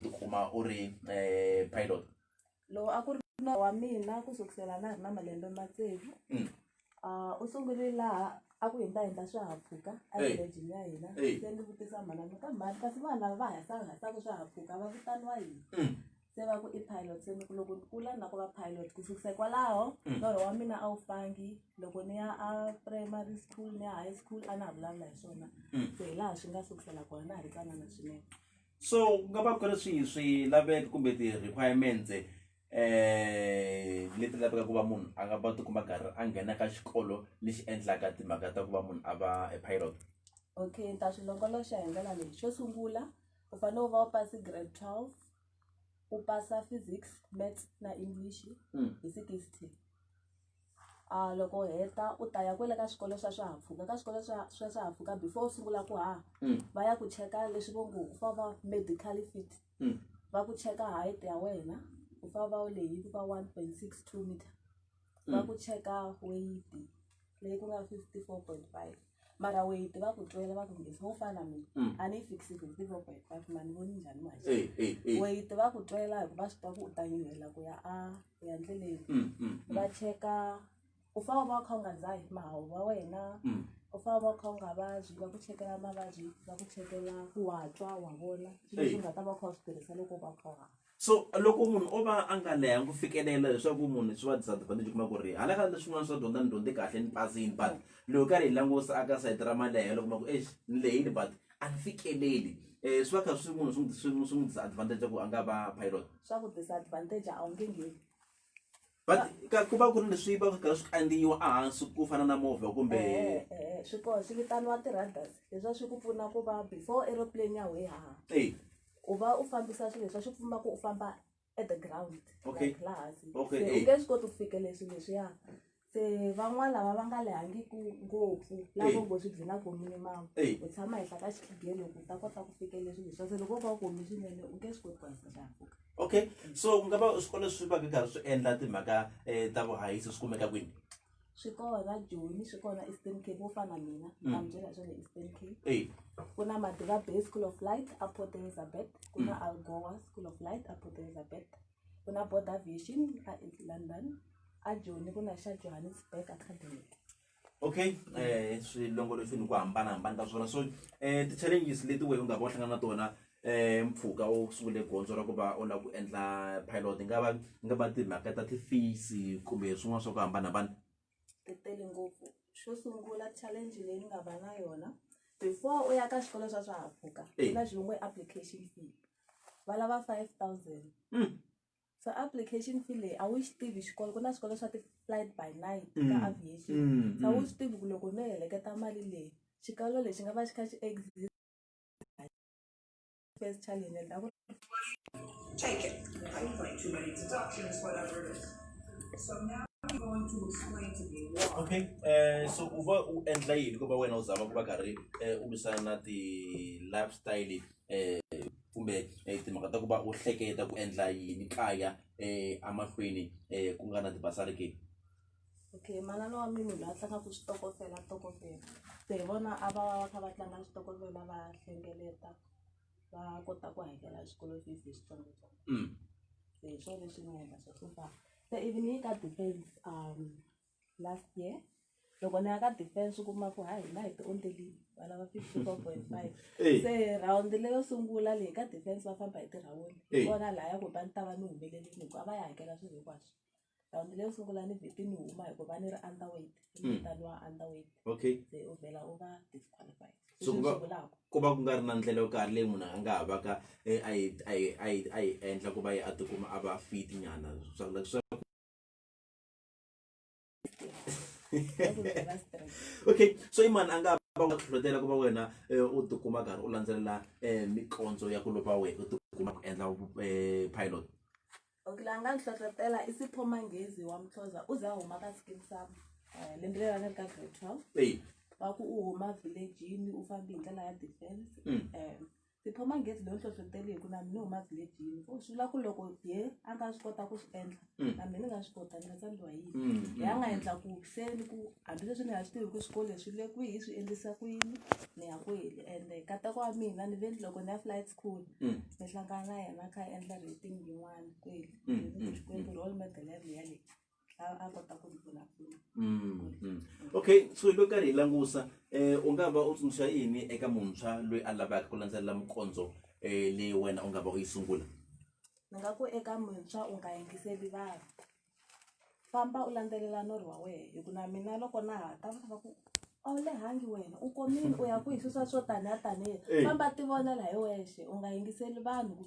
u kuma u ri um pilot lowu a ku ri norho wa mina ku sukusela na ha ri na malembe ma tsevu Mm. um u sungule laha a ku hi ni ta endla swihahampfhuka Hey. evillejini ya hina Hey. se ni vutisa mhana ni ka mhani kasi vanhu lava va hasahasaku swihahampfhuka va vitaniwa yini Mm. se va ku i pilot se ni ku loko ni kula ni la ku va pilot ku sukisa hikwalaho Mm. norho wa mina a wu fangi loko ni ya a primary school ni ya high school a na ha vulavula hi swona Mm. se hi laha swi nga sukusela kona na ha ri tsanana swinene so ku nga va ku ri swihi swilaveko kumbe ti-requirements um leti laveka ku va munhu a nga va tikuma karhi a nghena ka xikolo lexi endlaka timhaka ta ku va munhu a va a pilot okay ni ta swi longoloxa hi ndlela leyi xo sungula u fanele u va u pasi grade twelve u pasa physics maths na english hmm. hi sixty loko u heta u ta ya kwale ka swikolo swa swihahampfhuka ka swikolo swa swa swihahampfhuka before u sungula ku haha va ya ku cheka leswi vo nge va va medical fit va ku cheka height ya wena u fane u va u lehile ku va one point six two meter va ku cheka weight leyi ku nga fifty four point five mara weight va ku twela va ku nge-se wo fana na mina a ni yi fikisi fifty four point five ma ni voni njhani weight va ku twela hikuva va swi tiva ku u ta nyuhela ku ya a. hi handle leyi Mm, mm, mm. va cheka u fane u va u kha u nga dzahi mahawu wa wena Mm. u fane u va u kha u nga vabyi va ku chekela mavabyi va ku chekela ku wa twa wa vona swilo Hey. leswi u nga ta va u kha u swi tirhisa loko u va u kha u hava so loko munhu o va a nga leha ku fikelela leswaku munhu swi va disadvantage kuma ku ri hala ka leswin'wana swa dyondza ni dyondze kahle ni pasini but loko karhi hi langusa aka sayiti ra malehelo kuma ku exi ni lehile but a ni fikeleli um swi va kha swi munhu swi n'wi- swi n'wi swi n'wi disadvantage ku a nga va pilot swa ku disadvantage a wu nge ngheni but ka ku va ku ri leswi va karhi swi kandziyiwa ehansi ku fana na movha kumbe Eh, eh, eh, swi kona swi vitaniwa ti-radars leswiya swi ku pfuna ku va before aeroplane ya wehe haha Ey, u va u fambisa swilo leswiya swi pfuna ku u famba at the ground Okay. like laha hansi Okay, Se u eh. nge swi koti ku fikele swilo leswiya se van'wana lava va nga lehangiku ngopfu lavo ngo swi byela ku minimum u tshama henhla ka xikhigeni loko u ta kota ku fikelela swilo swa se loko u va u komi swinene u nge swi koti ku haisa xihahampfhuka okay so ku nga va swikolo swi va ku karhi swi endla timhaka um ta vuhahisi swi kumeka kwini swi kona joni swi kona eastern cape wo fana mina mm. ambyela swa le eastern cape ku na madiva bay school of light a port elizabeth ku na mm. algoa school of light a port elizabeth ku na Border Vision a East London a Joni ku na xa Johannesburg Academy okay eh swilongolofini ku hambanahambana ka swona so eh ti-challenges leti wehe u nga va u hlangana na tona eh mpfhuka u sungule gondzo ra ku va u lava ku endla pilot nga va nga va timhaka ta ti-fees kumbe swin'wana swa ku hambanahambana ti tele ngopfu xo sungula challenge leyi ni nga va na yona before u ya ka swikolo swa swihahampfhuka ku na xivongo application fee va lava five thousand mm. so application fee leyi a wu xi tivi xikolo ku na swikolo swa ti-flight by night ka mm. aviation mm, so a wu xi tivi ku loko no heleketa mali leyi xikalo lexi nga va xi kha xi exist first challenge and a ku Take it. I don't like too many deductions, whatever it is. So now I'm going to explain to you why. Okay, uh, so u va u endla yini ku va wena u zama ku va karhi uh, u lwisana na ti-lifestyle leti kumbe timhaka ta ku va u hleketa ku endla yini kaya emahlweni ku nga na ti-bursary ke okay manana wa mina loyi a tlangaka switokofela tokofela se hi vona a va va va kha va tlanga switokofela va hlengeleta va kota ku hakela xikolo fees hi switsongotsongo se hi swona leswi nga endla swa ku fana se even yi ka depends um last year loko ni ya ka defense u kuma ku ha hina hi ti ondelini va lava fifty four point five Hey. se rhawundi leyo sungula leyi ka defense va famba hi tirhawundi Hey. kona laha ya ku ba ni ta va ni humelelini hikuva a va ya hakela swilo hinkwaswo rhawundi leyo sungula ni vheti ni huma hikuva ni ri underweight Mm. mutani wa underweight okay se u vhela u va disqualified So ku va- vulaka ku va ku nga ri na ndlela yo karhi leyi munhu a nga ha vaka eh, a yi a yi a yi a yi endla ku va yi a tikuma a va fit nyana swa ku swa okay so i mani a nga va nga hlohlotela ku va wena eh, u tikuma karhi u landzelela eh, mikondzo ya ku lova wena u tikuma ku endla eh, pilot okay la nga ni hlohlotela i sipho manghezi wa muthoza u za huma ka skin sam lembe leri a nga ri ka grade twelve wa ku u huma villagini u fambe hi ndlela ya defense um tikhoma ngezi leyo hlohloteli hi ku na mina huma vhilejini ku swi vula ku loko ye a nga swi kota ku swi endla mm. na mina ni nga swi kota ni nga tsandziwa yini mm, mm, ya nga endla ku se ni ku hambileswi ni nga swi tivi ku swikolo leswi le kwihi swi endlisa ku yini ni ya kweli ende katako wa mina ni ve loko ni ya flight school ni hlangana na yena kha endla rating yin'wana kweli xikwembu role model ya leyi a kota ku vulavula mm, mm. okay so hi lo karhi hi langusa eh u nga va u tsundzuxa yini eka muntshwa loyi a lavaka ku landzelela mukondzo um eh, leyi wena u nga va u yi sungula ni nga ku eka muntshwa u nga yingiseli vanhu famba u landzelela norhi wa wena hi ku na mina loko na ha ta va ku a wu lehangi wena u komile u ya ku hi swisa swo taniya taniya famba tivonela hi wexe u nga yingiseli vanhu